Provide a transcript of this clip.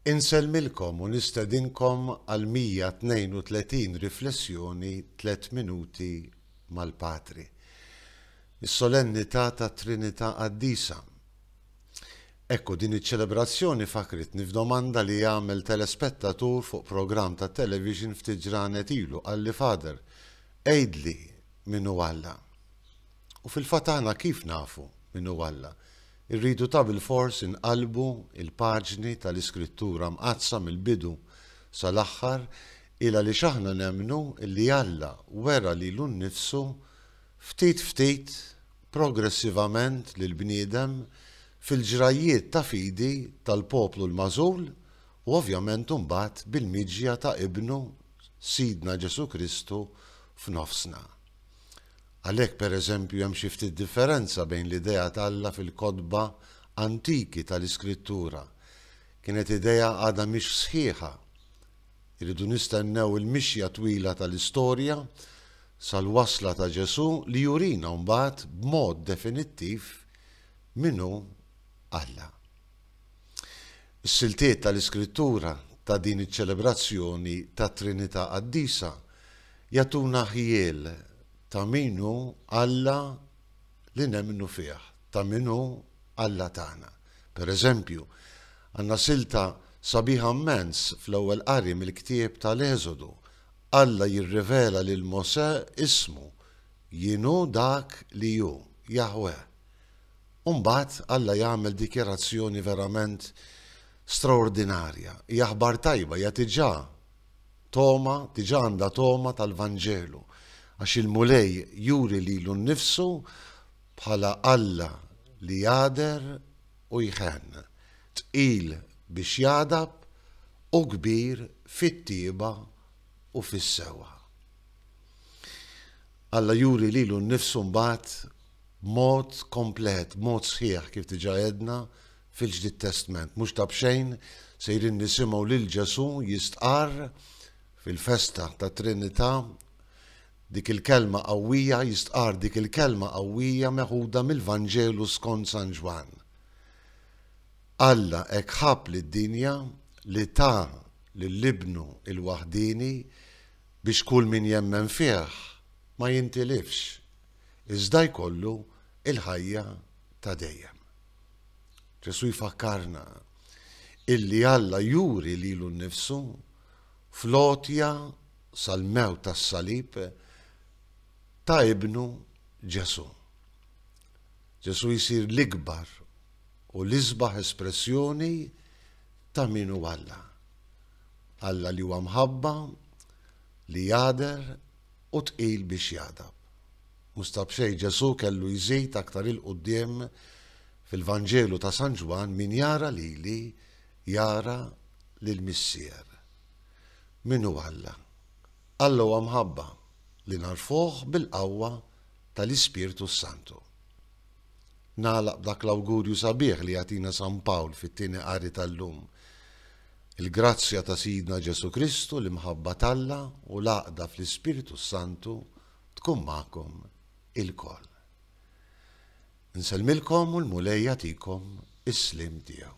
Insellmilkom u nistedinkom għal 132 riflessjoni Tliet Minuti mal-Patri, is-Solennità tat-Trinità Qaddisa. Ekku, din iċ-ċelebrazzjoni fakkritni f'domanda li għamel telespettatur fuq programm tat-television ftit ġranet ilu, qalli, Father, għidli min hu Alla. U fil-fatt aħna kif nafu min hu Alla? Irridu tabilfors inqallbu l-paġni tal-Iskrittura Mqaddsa mill-bidu sal-aħħar, il għaliex aħna nemmnu li Alla wera lilu nnifsu ftit ftit, progressivament lill-bniedem fil-ġrajjiet ta' fidi tal-poplu l-magħżul u ovvjament imbagħad bil-miġja ta' Ibnu, Sidna Ġesù Kristu, f'nofsna. Għalhekk, pereżempju, hemm xi ftit differenza bejn l-idea t'Alla fil-kotba antiki ta' l-Iskrittura. Kienet idea għadha mhix sħiħa. Irridu nistennew il-mixja twila ta' l-istorja sal-wasla ta' Ġesù li jurina mbagħad b'mod definittiv min hu Alla. Is-siltiet tal-Iskrittura ta' din iċ-ċelebrazzjoni tat-Trinità Qaddisa jagħtuna ħjiel ta' min hu Alla li nemmnu fih, ta' min hu Alla tagħna. Pereżempju, għandna silta sabiħa mmens fl-Ewwel Qari mill-ktieb tal-Eżodu, Alla jirrivela lil Mosè ismu, Jien hu dak li hu, Jaħweh. U mbagħad Alla jagħmel dikjarazzjoni verament straordinarja. Hija aħbar tajba, hija diġà togħma, diġà għandha togħma tal-Vanġelu, għax il-Mulej juri lilu nnifsu bħala Alla li jagħder u jħenn, tqil biex jagħdab u kbir fit-tjieba u fis-sewwa. Alla juri lilu nnifsu mbagħad b'mod komplet, b'mod sħiħ, kif diġà għedna, fil-Ġdid Testment. Mhux ta' b'xejn sejrin nisimgħu lil Ġesù jistqarr fil-festa tat-Trinità dik il-kelma qawwija, jistqarr dik il-kelma qawwija meħuda mill-Vanġelu skont San Ġwann. Alla hekk ħabb lid-dinja li ta lil Ibnu l-waħdieni biex kull min jemmen fih ma jintilifx, iżda jkollu l-ħajja ta' dejjem. Ġesù jfakkarna illi Alla juri lilu nnifsu fl-għotja sal-mewt tas-salib ta' ibnu Ġesù. Ġesù jsir l-ikbar u l-isbaħ espressjoni ta' min hu Alla. Alla li huwa mħabba, li jagħder, u tqil biex jagħdab. Mhux ta' b'xejn Ġesù kellu jżid aktar 'il quddiem fil-Vanġelu ta' San Ġwann, Min jara lili, jara lill-Missier. Min hu Alla? Alla huwa mħabba, li nagħrfuh bil-qawwa tal-Ispirtu s-Santu. Nagħlaq b'dak l-awgurju sabiħ li jagħtina San Pawl fit-Tieni Qari tal-lum, Il-grazzja ta' Sidna Ġesù Kristu, l-imħabba t'Alla u l-għaqda fl-Ispirtu s-Santu tkun magħkom ilkoll. Insellmilkom u l-Mulej jagħtikom is-sliem tiegħu.